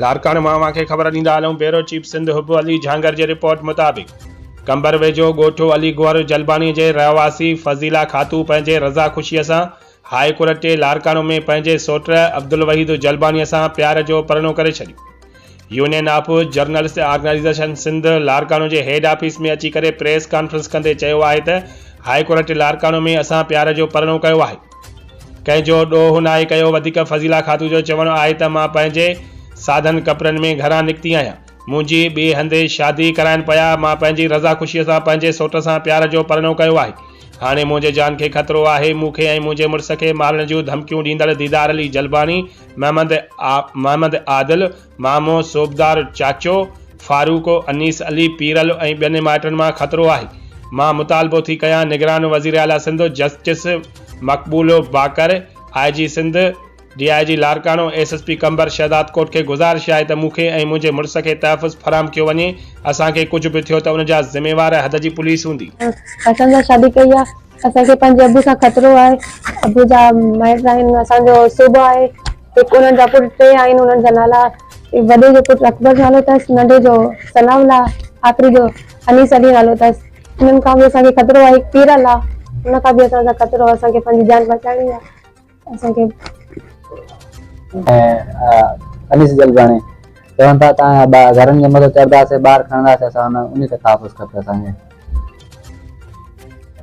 لاڙڪاڻي مان اوهان کي خبر ڏيندا هلون بيورو چيف سنڌ حب علي جهانگر جي رپورٽ مطابق قمبر ويجهو ڳوٺ علي گوهر جلباڻي جي رهواسي فضيلا خاتو پنهنجي رضا خوشي سان هاء ڪورٽ ٽي لاڙڪاڻو ۾ پنهنجي سوٽ عبدالوحيد جلباڻي سان پيار جو پرڻو ڪري ڇڏيو union of journalist organization Sindh Larkana جي هيڊ آفيس ۾ اچي ڪري پريس ڪانفرنس ڪندي چيو آهي ته هاء ڪورٽ ٽي لاڙڪاڻو ۾ اسان پيار جو پرڻو ڪيو آهي ڪنهن جو ڏوهه ناهي ڪيو وڌيڪ فضيلا خاتون جو چوڻ آهي ته مان پنهنجي سادن ڪپڙن ۾ گهران نڪتي آهيان منهنجي ٻئي هنڌ شادي ڪرائن پيا مان پنهنجي رضا خوشي سان پنهنجي سوٽ سان پيار جو پرڻو ڪيو آهي هاڻي منهنجي جان کي خطرو آهي مون کي ۽ منهنجي مڙس کي مارڻ جون ڌمڪيون ڏيندڙ ديدار علي جلباڻي محمد محمد عادل مامو، صوبدار چاچو، فاروق، انيس علي، پيرل ۽ ٻين مائٽن مان خطرو آهي. مان مطالبو ٿي ڪيان نگران وزير اعليٰ Sindh justice Maqbool Baqar, I G Sindh, D I G Larkana, S S P Qambar Shahdad Kot کي گذارش آهي ته مون کي ۽ منهنجي مڙس کي تحفظ فراهم ڪيو وڃي، اسان کي ڪجهه به ٿيو ته ان جا ذميوار حد جي پوليس هوندي. اسان سان شادي ڪئي آ. اسان کي پنهنجي ابو سان خطرو آهي. ابو جا مائٽ آهن. اسان جو صوبه آهي. هڪ انهن جا پٽ ٽي آهن. انهن جا نالا وڏي جو پٽ اڪبر نالو اٿس. ننڍي جو ثناء الله. آخري جو انيس علي نالو اٿس. انهن کان به اسان کي خطرو آهي. هڪ پيرل آهي. ان کان به اسان سان خطرو آهي. اسان کي پنهنجي جان بچائڻي آهي. اسان کي. انيس جلباڻي چون ٿا ته اسان گهرن جي مٿي چڙهنداسين، ٻار کڻنداسين، اسان انهي تي تحفظ کپي اسان کي.